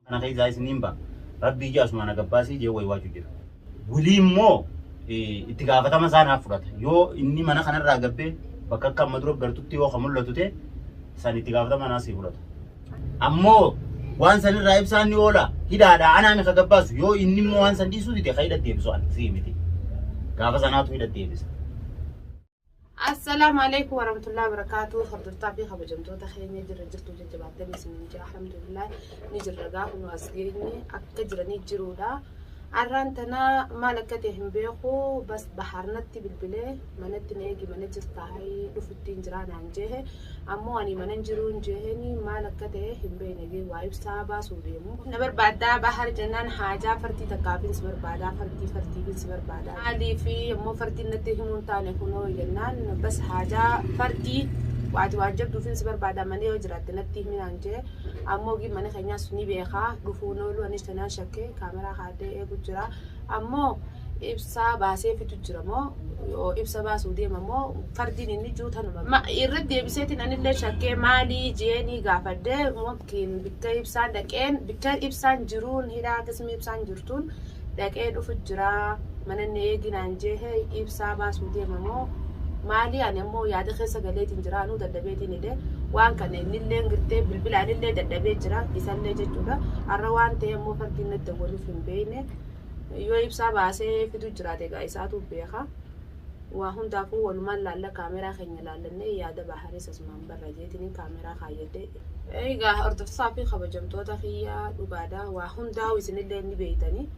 Kana keessaa isniin ba. Rabbii je asumaa na gabbaasii jee waywaachuu jira. Wly immo itti gaafatama isaa naaf fudhata. Yoo inni mana kana irraa gabbee bakka akka amma dura gartutti yoo ka mul'atu te san itti gaafatama naa sii fudhata. Ammoo waan san irraa ibsaan ni oola. Hidhaadhaa anaami ka gabbaasu. Yoo inni immoo waan san dhiisuu dide ka hidha deebisu an sii miti. Gaafa sanaatu hidha deebisa. Assalaamu Aleeykum Warahmatullahi Wabarakaatuh Hordoftaa fi kabajamtoota keenya jirra jirtuu jajjabaattanii isiniin jira alhamdulillah ni jirra gaafa nu as geenye akka jiranii jiruudha arraan tana maal akka ta'e hin beeku bas bahaarnatti bilbilee manatti na eegi mana jirtaa hayii dhufuttiin jiraa naan jeehe Ammoo ani manan jiruun jeheen maal akka ta'e hin beeyne jee waa ibsaa baasuu deemu. Na barbaaddaa Bahar jennaan haajaa fartii takkaafin si barbaadaa fartii fartiifin si barbaadaa maaliif ammoo fartiin natti himuu hin taane kunoo jennaan bas haajaa fartii waati waan jabduufin si barbaadaa mana yoo jiraatte natti himi naan jee ammoo ogiin mana keenyaas ni beekaa dhufuun ooluu anis tanaan shakkee kaameraa kaadhee eegu jira ammoo ibsa baaseefitu jira moo yoo ibsa baasuu deema moo fardiin inni juu tanuma ma irratti deebiseetiin anillee shakkee maalii jeenii gaafadhee mokkiin bikka ibsaan dhaqeen bikka ibsaan jiruun hidhaa qismi ibsaan jirtuun dhaqee dhufu jira mananni eeginaan jeehe ibsaa baasuu deema moo maalii ani ammoo yaada keessa galeetiin jira anuu dadhabeetiin hidhe waan kana innillee girtee bilbila anillee dadhabee jira isallee jechuudha har'a waan ta'e ammoo fardiin natti waliif hin beekne Yoo ibsaa baasee fidu jiraate egaa isaatu beeka. Waa hundaafuu walumaan laalla kaameraa keenya laallannee yaada Baharis asumaan barra jeetiniin kaameraa kaayyadhee. Egaa hordoftotaa fi kabajamtoota kiyya dhugaadha waa hundaa'u isinillee ni beeytani.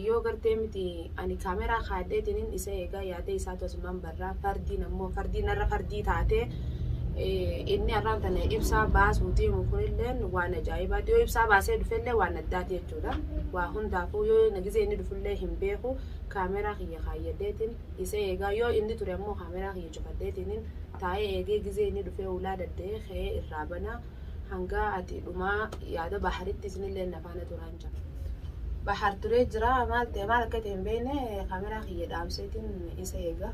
Yoo gartee miti ani kaameraa kaadheetiniin isa eegaa yaada isaatu asumaan barraa fardiin ammoo fardii narra fardii taatee inni arraan tana ibsaa baasuu deemu kunilleen waan ajaa'ibaati. Yoo ibsaa baasee dhufellee waan addaati jechuudha. dha. Waa hundaafuu yoo na gizee inni dhufullee hin beeku kaameraa kiyya kaayyadheetiin isa eegaa yoo inni ture ammoo kaameraa kiyya cufadheetiinin taa'ee eegee gizee inni dhufee ulaa dadda'ee ka'ee irraa bana hangaa ati dhumaa yaada baharitti isinillee na faana turaan jira. Bahar turee jira maal ta'e maal akka ta'e hin beekne kaameraa kiyya dhaamseetiin isa eegaa.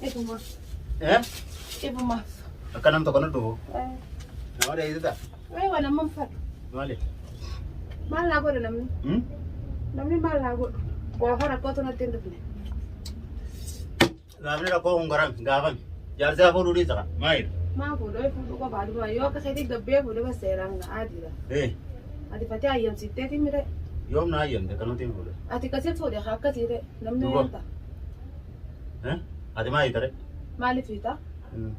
Dhibumaaf. Eh? Dhibumaaf. Akka nam tokko na dhufu. Nama dheessita. Wayi waan amma fadhu. Maali? Maal naa godhu namni? Hmm? Namni maal naa godhu? Waafa rakkootu natti hin dhufne. Gaafni rakkoo kun garan gaafame. Jaarsi hafuu duudhii saka. Maayil. Maa fuudhoo ifuu dhuga baaduma yoo akka seetii gabbee fuudhee bas seeraan ga'aa jira. Eh. Ati fatee ayyamsiiftee fi mire. Yoom na hayyamte kan nuti hin fuudhe. Ati kasi fuudhe haa akkasii ta'e namni Duba. wanta. Eh? Ati maa hiitare? Maaliif hiita? Hmm.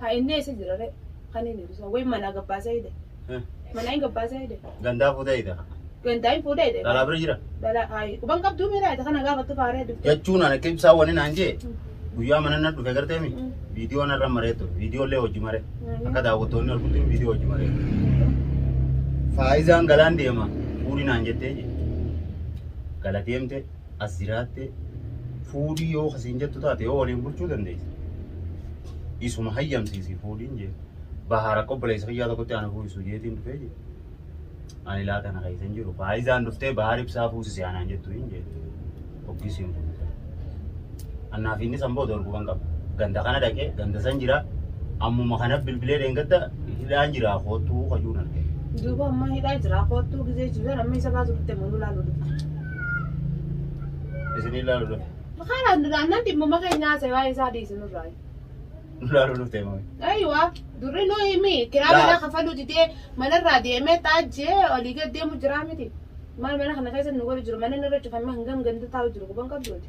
Haa inni eessa jira ree? Kan inni ibsa. Wayii manaa gabbaasee hidhe. Eh? Manaa hin gabbaasee hidhe. Gandaa fuutee hiita. Gandaa hin fuudhee hidhe. Dhalaa bira jira. Dhalaa haayi. Quban qabduu miiraa hidhe kana gaafattu faaree dubte. Jechuun ani akka ibsaa wani naan jee guyyaa mana na dhufe gartee mi? Mm. Viidiyoo narra maree ture. Viidiyoo illee hojii maree. Mm. Akka daawwattoonni argutti viidiyoo hojii maree. Faayizaan galaan deema. Fuudhi naan jettee jee. Gala deemte. as jiraattee fuudhii yoo kasiin jettu taate yoo waliin bulchuu dandeessi. Isuma hayyamsiisi fuudhiin jee. Bahaar akka obboleessa kiyyaa tokkotti ana fuusisu jeetiin dhufee jee. Ani laa kana keessa hin jiru. Faayizaan dhuftee bahaar ibsaa fuusise anaan jettu hin jee. Oggis hin fuudhisa. Annaaf inni san booda orguban qaba. Ganda kana dhaqee ganda san jira. Ammuma kana bilbilee deengadda hidhaan jira koottuu kajuun argee. Duuba amma hidhaa jira koottuu gizee jiru amma isa baatu dhutte muluu laaluu dhutte. Isin ilaalu dhufe. Makaan aannan dhimmuma keenyaa isa waa'ee isaa dhiisinurraa. Ilaalu dhufte moo. Aywa durri nu himi kiraa Laal. mana kafaluu didee manarraa deemee xaajjee olii gad deemu jiraa miti. Maal mana kana keessa nu godhu jiru mana narra cufamee hangam ganda taa'u jiru quban qabduuti.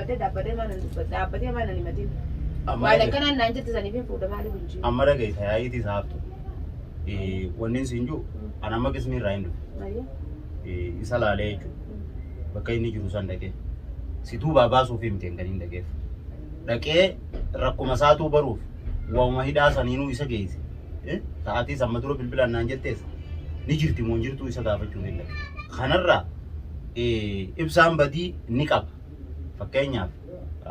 dhaabbatee dhaabbatee maa nan dubbata dhaabbatee maa nan himatin Amma maal dhagee- akkanaan naan jette saniif hin fuudha maaliif hin jiru Amma dhageessa yaa'iitii saaftu. Wanni siin jiru an amma qisni irraa hin dhufe. Maaliif? Eh, Isa laalee jechuudha. Bakka inni jiru san dhaqee. Situu baabaasuuf hin ta'in kan hin dhaqeef. Dhaqee rakkuma isaatuu baruuf waanuma hidhaa saniinuu isa geesse. Eh, Sa'aatii samma dura bilbilaan naan jettees ni jirti moo hin jirtu isa gaafachuuf hin dhaqe. Kanarraa eh, ibsaan badii ni qaba. Fakkeenyaaf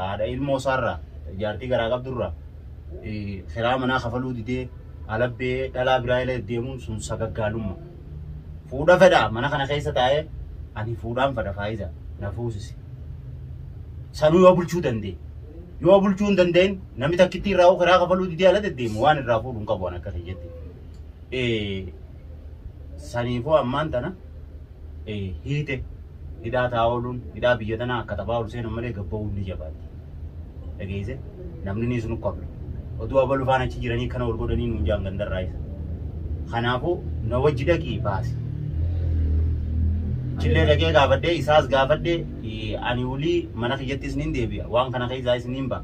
haadha ilmoo isaarraa jaartii garaa qabdurraa kiraa manaa kafaluu didee alabbee dhalaa biraa ila deemuun sun sagaggaalumma. Fuudha fedha mana kana keessa taa'ee ani fuudhaan fedha faayiza na fuusise. Sanuu yoo bulchuu danda'e. Yoo bulchuu hin danda'in namni takkittii irraa kiraa kafaluu didee ala deddeemu waan irraa fuudhu hin qabu an akka kiyyetti. Saniifuu ammaan tana hiite hidhaa taa ooluun hidhaa biyya tanaa akka taphaa ol seenan malee gabba'uun ni jabaatti. Dhageesse namni ni sunu qabdu. Oduu abalu faan achi jiranii kana ol godhanii nuun jaan gandarraa isa. Kanaafuu na wajji dhaqii baasi. Chillee dhaqee gaafadhee isaas gaafadhee ani ulii mana kiyyattis nin deebi'a waan kana keessaa isiniin ba'a.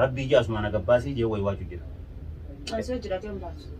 Rabbii ija asumaan agabbaasii jee waywaachuu jira. Osoo jirateen baasu.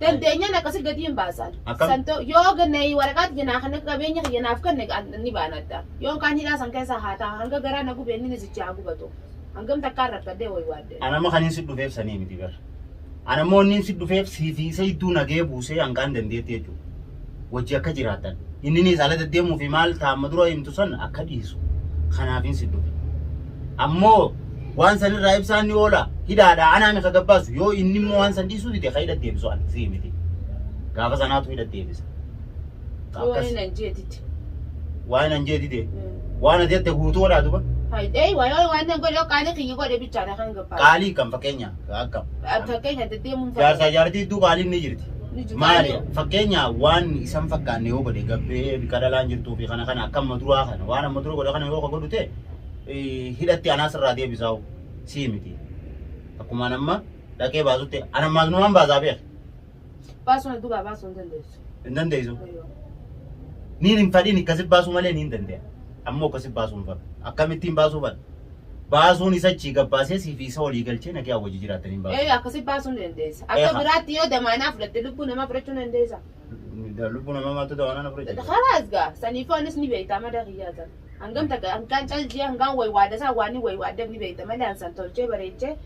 dandeenyaan akkasii gadi hin baasan. Akkam? San ta'u yoo ganna waraqaa kiyya naa kana qabeenya kiyya naaf kenne an- ni baanadha. Yoon kaan hidhaa san keessa haa ta'a hanga garaa na gubee inni nisichi haa gubatu. Hangam takkaan rakkadee wayi waadde. Ana amma kanin si dhufeef sanii miti bar. Ana immoo inni si dhufeef siifii isa idduu nagee buusee hangaan dandeetti jechuudha. wajji akka jiraatan inniniis ala deddeemuu fi maal taamma dura himtu san akka dhiisu kanaafiin si dhufe ammoo waan san irraa ibsaan ni oola hidhaadha anaa mika gabbaasu yoo inni immoo waan san dhiisuu dide ka hidha deebisu an si miti gaafa sanaatu hidha deebisa Akkas- Waan nan jeetitti. waan an jee dide waan ati jette guutuu godhaa duba Faayidee waayoo waan nan godhe qaanii kiyya godhe bichaadha kan gabbaa. qaalii kan fakkeenya akkam Fakkeenya deddeemuun jaarsaa jaartii iddoo qaaliin ni jirti Maali fakkeenyaa waan isan fakkaanne yoo godhe gabbee bika dhalaan jirtuu fi kana kana akka amma duraa kana waan amma dura godhe kana yoo ka godhu ta'e hidhatti anaa sirraa deebisaa'u sii miti. Akkumaan amma dhaqee baasutti ana ammaas numaan baasaa beeka. Baasuu na dugaa baasuu hin dandeessu. Hin dandeessu. Niin hin fadhiin akkasi baasuu malee niin dandeenya. Ammoo akkasi baasuu hin fadhu. Akkamittiin baasuu fadhu? baasuun isa achii gabbaasee siifi isa walii galchee nagaa wajji jiraatanii hin baasu. Ee akkasi baasuu ni dandeessa. Akka Eeha. biraatti yoo damaanaa fudhatte lubbuu namaa fudhachuu ni dandeessa. Lubbuu namaa maaltu damaanaa na fudhachuu? Karaas gaa saniifuu anis ni beekta madaa kiyyaa san. Hangam takka hangaan caljii hangaan wayi waada isaa waan wayi waaddeef ni beekta malee an san tolchee bareechee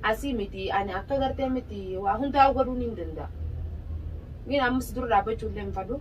asii miti ani akka gartee miti waa hundaa godhuu ni danda'a. Ni ammas dura dhaabbachuu illee hin fadhu.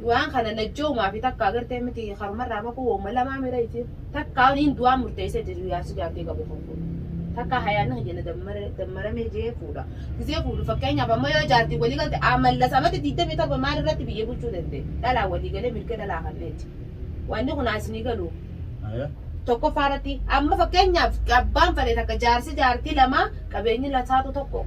Du'aan kana najjoomaa fi takka agartee miti karumarraa makuu hooma lamaa mira isiin. Takka niin du'aan murteessee jaju yaarsi jaartii qabu kan fuudhu. Takka hayaanni kan jenna dammaramee jee fuudha. Gizee fuudhu fakkeenyaaf amma yoo jaartii walii galte amallas amata 27 maal irratti biyya bulchuu danda'e. Dhalaa walii galee mirga dhalaa kanneeti. Wanni kun asinii galu. Tokkoffaa irratti amma fakkeenyaaf abbaan fale takka jaarsi jaartii lama qabeenyi lasaatu tokko.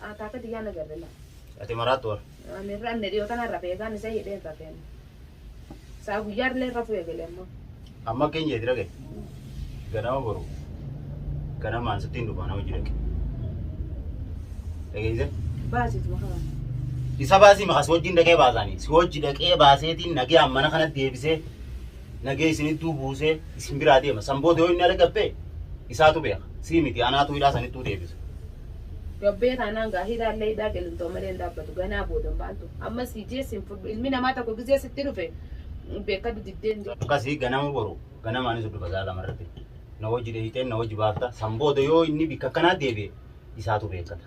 Akaaka tiyyaa na garre laa. Ati maraattu bar. Ani irra anne dhiyoo tana irra beekaan isa hidhee irra feene. Saa guyyaa irra irra fu'e galee immoo. Amma akka hin jeeti dhage. Ganama boru. Ganamaan sitti hin dhufa nama jirake. Dhageesse? Baasitu makaa. Isa baasii maqaa si wajjin dhaqee baasaanii. Si wajji dhaqee baaseetiin nagee ammana kana deebisee nagee isin idduu buusee isin biraa deema. San booda yoo inni ala gabbe isaatu beeka. Sii miti anaatu hidhaa san ittuu deebisa. Gabbee taanaan gaa hidhaa illee hidhaa qilintoo malee hin dhaabbatu. Ganaa booda maaltu amma sii jee sin fudhu ilmi namaa tokko gizee sitti dhufe beekadhu diddee hin jedhu. Akkasii ganama boru ganamaanis iddoo basaa lama irratti na wajji dheeyxeen na wajji baafta. San booda yoo inni bikka akkanaa deebi'e isaatu beekata.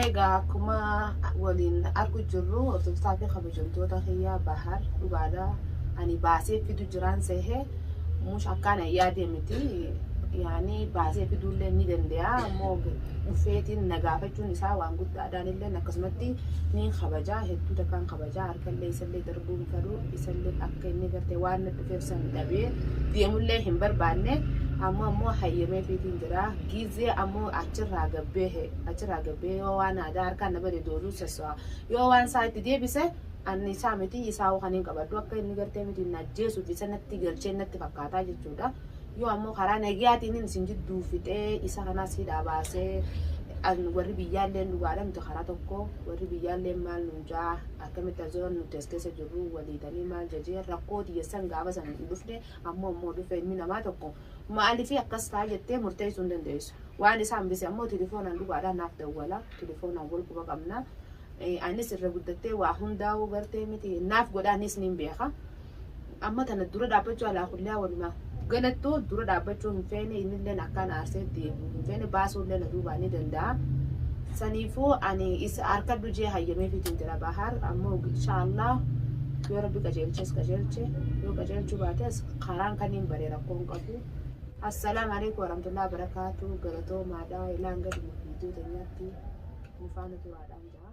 Egaa akkuma waliin argu jirru hordoftaa fi kabajamtoota kiyyaa bahar dhugaadha. Ani baasee fidu jiraan seehee mush akkaan yaadee miti. Yaani baasee fiduullee ni danda'a. Ammoo dhufeetiin na gaafachuun isaa waan guddaadhaan illee akkasumatti ni kabajaa hedduu takkaan kabajaa harkallee isallee Rabbiin garuu isallee akka inni gartee waan na dhufeef san dhabee deemullee hin barbaanne amma ammoo hayyamee fiitiin jira giizee ammoo achirraa gabbee he achirraa gabbee yoo waan aadaa harkaan na bade dooluu sassaa yoo waan isaa itti deebise anni isaa miti isaa waan hin qabaddu akka inni gartee miti na ajjeesuuf isa natti galchee natti fakkaataa jechuudha yoo ammoo karaa nagiyaatiin inni isin jidduu fixee isa kanaas hidhaa baasee an warri biyyaallee dhugaadha miti karaa tokko warri biyyaallee maal nuun jaa Akkamitti as jiran nuti as keessa jirru walii tanii maal jajee rakkoo tiyya san gaafa san hin dhufne ammoo ammoo dhufe ilmi namaa tokko maaliif akkas ta'a jettee murteessuu hin dandeessu. Waan isa hambise ammoo telefoonaan dhugaadhaan naaf dawwala telefoonaan wal quba qabna. Anis irra guddattee waa hundaa'uu gartee miti naaf godhaanis niin beeka. Amma tana dura dhaabbachuu alaa kulliyaa walumaa galattu dura dhaabbachuu hin feene innilleen akkaa na aarsee itti himu hin feene baasuullee na duubaa ni danda'a saniifuu ani is arkadhu jee hayyameefiitiin jira Bahaar ammoo inshaa Allah yoo rabbi qajeelches qajeelche yoo qajeelchuu baates karaan kaniin baree rakkoo hin qabu Assalaamu alaikum warahmatullahi wabarakatuh galatoomaadha ilaa hanga dhuma viidiyoo teenyaatti nu faana turaadhaan jaa.